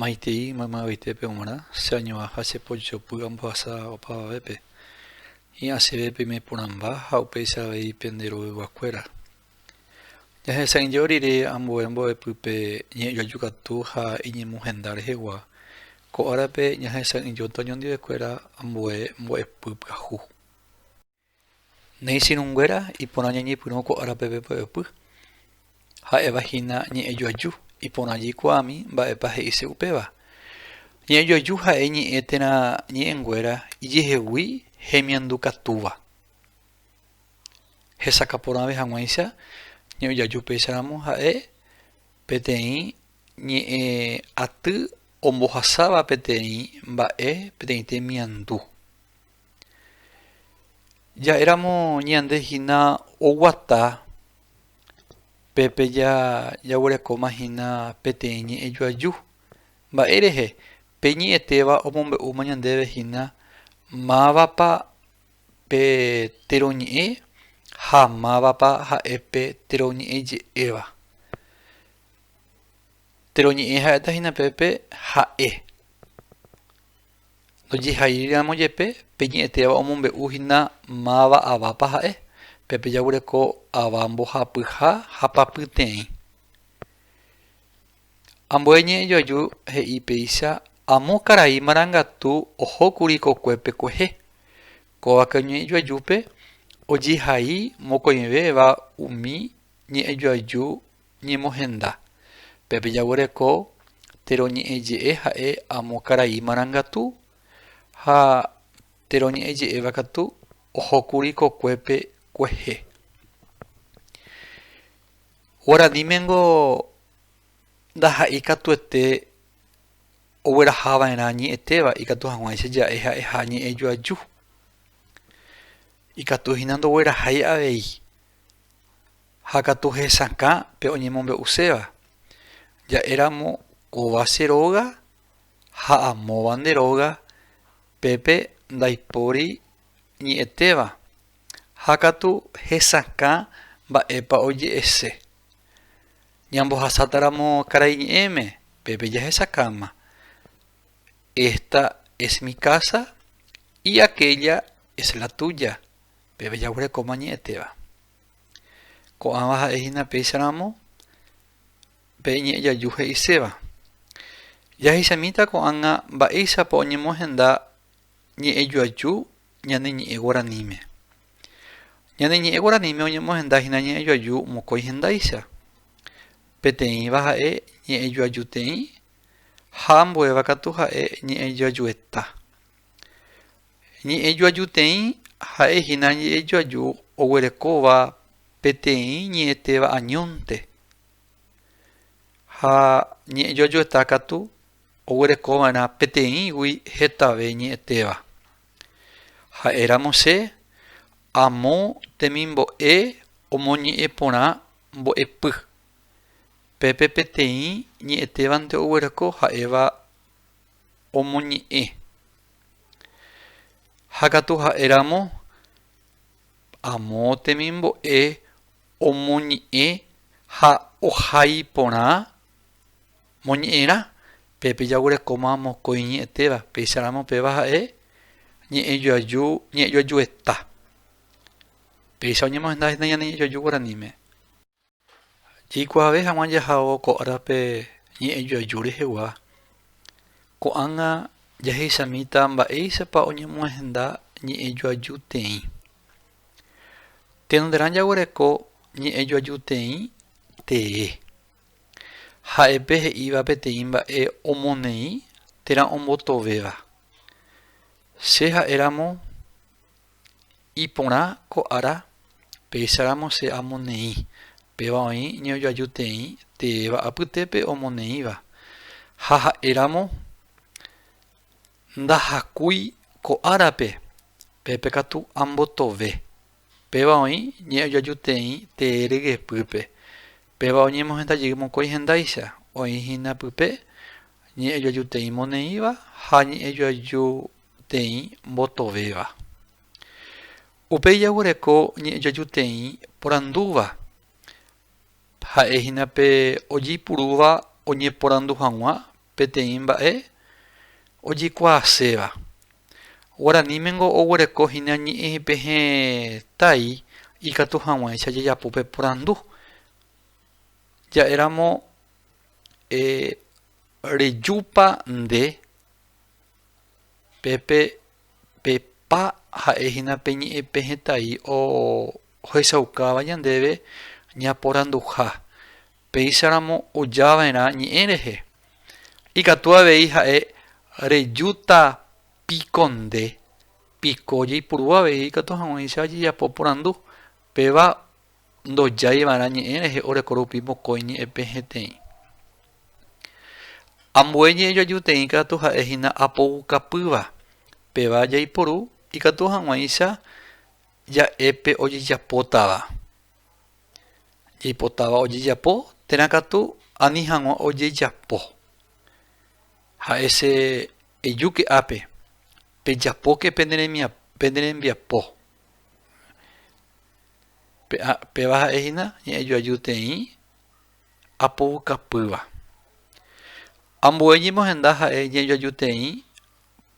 Maitei maymavetépe g̃uarã che añova ha che pochopy ambohasa opavavépe. Hi'ã chéve peime porãmba ha upéicha avei pende roveguakuéra. Jahesa'ỹijo rire ambue mbo'epýpe ñe'ẽjaju katu ha iñemohenda rehegua, ko árape ñahesa'ỹijóta oñondive kuéra ambue mbo'epy pyahu. Néi sirunguéra iporã ñañepyrũ ko árape pe py'apy. Ha'éva hína ñe'ẽjoaju, iporã jaikuaami mba'épa he'ise upéva. Ñe'ẽjoaju ha'e ñe'ẽ térã ñe'ẽnguéra ijehegui hemiandu katúva. Hesakã porãve hag̃uáicha ñe'ẽjoaju péicha ramo ha'e peteĩ ñe'ẽ aty ombohasáva peteĩ mba'e peteĩ temiandu. Ja'éramo ñande hína oguata pépe jaguerekóma hína peteĩ ñe'ẽjoaju. Mba'e rehe? Pe ñe'ẽtéva omombe'úma ñandéve hína mávapa pe teroñe'ẽ ha mávapa ha'e pe teroñe'ẽje'éva. Teroñe'ẽ ha'éta hína pépe ha'e. Ndojehairíramo jepe pe ñe'ẽtéva omombe'u hína máva avápa ha'e, pe pe jagureko ava mbohapyha ha papyteĩ. Ambue ñe'ẽ joaju he'i péicha amo karai marangatu ohókuri kokuépe kuehe. Kóvake oñe'ẽ joajúpe ojehai mokõivéva umi ñe'ẽ joaju Ñemohenda, pépe jaguereko térõ ñe'ẽ je'e ha'e amo karai marangatu, ha térõ ñe'ẽ je'éva katu ohókuri kokuépe kuehe. Guaraníme-ngo ndaha'éi katuete oguerahava'erã ñe'ẽtéva ikatu hag̃uáicha ja'e ha'eha ñe'ẽ joaju, ikatu hína ndoguerahái avei. Ha katu hesakã pe oñemombe'uséva, ja'éramo kóva che róga ha amóva nde róga, pépe ndaipóri ñe'ẽtéva, ha katu hesakã mba'épa oje'ese. Ñambohasátaramo karai ñe'ẽme, pépe jahesakáma, Esta es mi casa y aquella es la tuya, pépe jaguerekóma ñe'ẽtéva. Ko'ãva ha'e hína péicha ramo pe ñe'ẽ jaju he'iséva. Jahechamíta ko'ág̃a mba'éichapa oñemohenda ñe'ẽ jaju ñane ñe'ẽ guaraníme. Ñane ñe'ẽ guaraníme oñemohenda hína ñe'ẽ jaju mokõi hendáicha. Peteĩva ha'e ñe'ẽ jajuteĩ ha ambuéva katu ha'e ñe'ẽ jajueta. Ñe'ẽjoajuteĩ ha'e hína ñe'ẽjoaju oguerekóva peteĩ ñe'ẽtéva añónte, ha ñe'ẽjoajueta katu oguerekova'erã peteĩgui hetave ñe'ẽtéva. Ha'éramose, amo temimbo'e omoñe'ẽ porã mbo'epy. Pépe peteĩ ñe'ẽtévante oguereko ha'éva omoñe'ẽ Ha katu ha'e ramo, amo temimbo'e omoñe'ẽ ha ohai porã moñe'ẽrã, pépe jaguerekóma mokõi ñe'ẽtéva, péicha ramo péva ha'e ñe'ẽjoaju, ñe'ẽjoajueta. Péicha oñemohenda hína ñane ñe'ẽjoaju guaraníme. Jaikuaave hag̃ua jaha'o ko árape ñe'ẽ joaju rehegua. Ko'ág̃a jahechamíta mba'éichapa oñemohenda ñe'ẽ joajuteĩ. Tenonderã jaguereko ñe'ẽ joajuteĩ tee. Ha'epe he'íva peteĩ mba'e omoneĩ térã ombotovéva. Che ha'éramo Iporã ko ára, péicharamo che amoneĩ, péva oĩ ñojoajuteĩ teéva apytépe omoneĩva. Ha ha'éramo, ndahakúi ko árape, pépe katu ambotove, péva oĩ ñe'ojoajuteĩ tee rygepýpe, péva oñemohenda jey mokõi hendáicha, oĩ hína pype ñe'ejoajuteĩ moneĩva ha ñe'ejoaju teĩ mbotovéva. Upéi jaguereko ñe'ẽjojuteĩ porandúva, ha'e hína pe ojeipurúva oñeporandu hag̃ua peteĩ mba'e ojekuaaséva. Guaranímengo oguereko hína ñe'ẽpe hetái ikatu hag̃uáicha jajapo pe porandu. Ja'éramo rejúpa nde Pépe pepa ha'e hína pe ñe'ẽpe hetái ohechaukáva ñandéve ñaporanduha, péicharamo ojava'erã ñe'ẽ rehe. Ikatu avei ha'e rejúta piko nde, piko jaipuru avei ikatu hag̃uáicha jajapo porandu, péva ndojái va'erã ñe'ẽ rehe oreko rupi mokõi ñe'ẽpe heteĩ. Ambue ñe'ẽ joajuteĩ katu ha'e hína apoukapýva, péva jaiporu ikatu hag̃uáicha ja'e pe ojejapótava. Jaipotáva ojejapo térã katu ani hag̃ua ojejapo. Ha'e che ejúke ápe, Pejapóke pene rembiapo, Péva ha'e hína ñe'ẽjoajúteĩ apoukapýva. Ambue ñemohenda ha'e ñe'ẽjoajúteĩ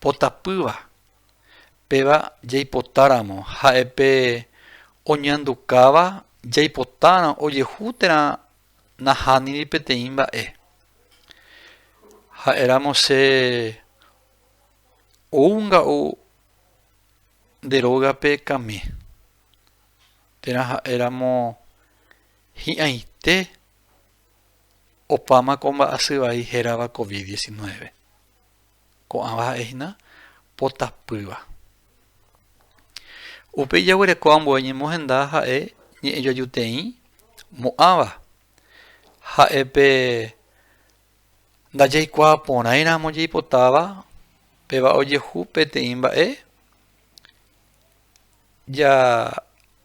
potapýva. Péva jaipotáramo ha'epe oñandukáva jaipotárõ ojehu térã nahániri peteĩ mba'e. Ha'éramo che ou nga'u Nde rógape kame. Térã ha'éramo hi'ãite opáma ko mba'asy vai hérava Covid diecinueve. Ko'ãva ha'e hína potapýva. Upe ijaguereko ambue ñemohenda ha'e ñe'ẽjoajuteĩ mo'ãva. Ha'e pe. Ndajaikuaa porãi ramo jaipotáva péva ojehu peteĩ mba'e, ja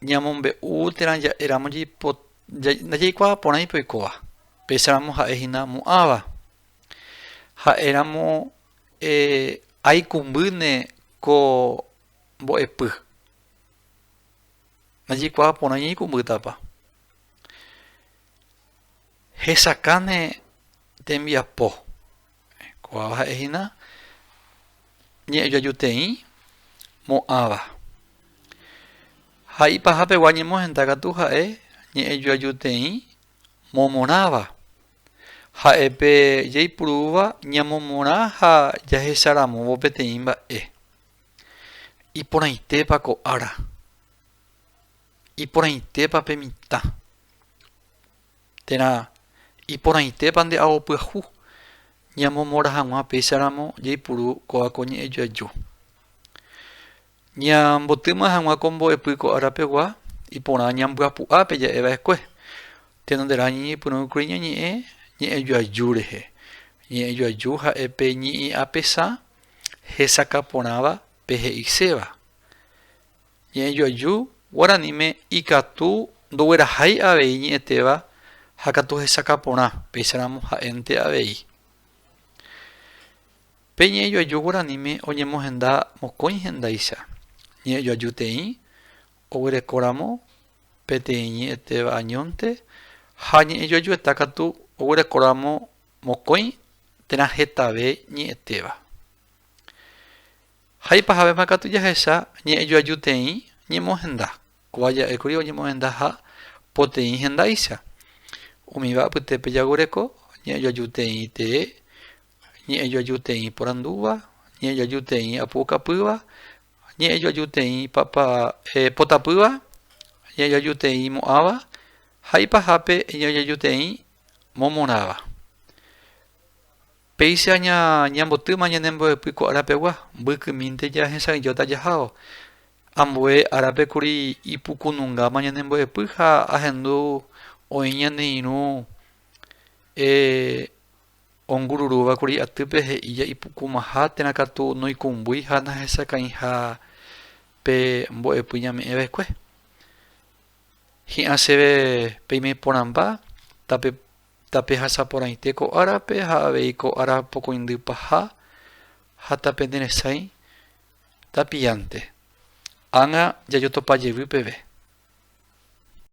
ñamombe'u térã ja'e ramo jaipota ndajaikuaa porãi pe oikóva, péicha ramo ha'e hína mu'ãva. Ha'e ramo eh, aikumbýne ko mbo'epy. Ndajaikuaa porãi aikumbýtapa. Hesakãne tembiapo. Ko'ãva ha'e hína ñe'ẽjoajuteĩ mo'ãva. Ha ipahapegua ñemohenda katu ha'e ñe'ẽjoajuteĩ momorãva. Ha'épe jaipurúva ñamomorã ha jahecharamóvo peteĩ mba'e. Iporãitépa ko ára? Iporãitépa pe mitã? Térã, iporãitépa nde ao pyahu ñamomora hag̃ua péicharamo jaipuru kóva ko ñe'ẽ joaju? Ñambotýma hag̃ua ko mbo'epy ko árapegua, iporã ñambyapu'a pe ja'e va'ekue. Tenonderã ñañeipyrũkuri ñañe'ẽ ñe'ẽ joaju rehe. Ñe'ẽ joaju ha'e pe ñe'ẽ apesã hesakã porãva pe he'iséva. Ñe'ẽjoaju guaraníme ikatu ndoguerahái avei ñe'ẽtéva ha katu hesakã porã, péicharamo ha'énte avei. Pe ñe'ẽjoaju guaraníme oñemohenda mokõi hendáicha, ñe'ẽjoaju teĩ oguerekóramo peteĩ ñe'ẽtéva añónte ha ñe'ẽjoajueta katu oguerekóramo mokõi térã hetave ñe'ẽtéva. Ha ipahavéma katu jahecha ñe'ẽjoajuteĩ ñemohenda. Kóva ja'ékuri oñemohendaha poteĩ hendáicha. Umíva apytépe jagureko ñe'ẽjoajuteĩ tee, ñe'ẽjoajuteĩ porandúva, ñe'ẽjoajuteĩ apu'ukapýva, ñe'ẽjoajuteĩ potapýva, ñe'ẽjoajuteĩ mo'ãva ha ipahápe ñe'ẽjoajuteĩ momorãva. Péicha ñambotýma ñane mbo'epy ko árapegua, mbykymínte jahesa'ỹijóta jahávo. Ambue árape kuri ipukunungáma ñane mbo'epy ha ahendu oĩ ñane irũ ongururúva kuri atýpe he'i ja'ipukumaha térã katu noikumbúi ha nahesakãiha pe mbo'epy ñame'ẽ va'ekue. Hi'ã chéve peime porãmba, tape Tapehasaporãite ko árape ha avei ko ára pokõindy paha ha tapeneresãi tapiánte. Ág̃a jajotopa jevy peve.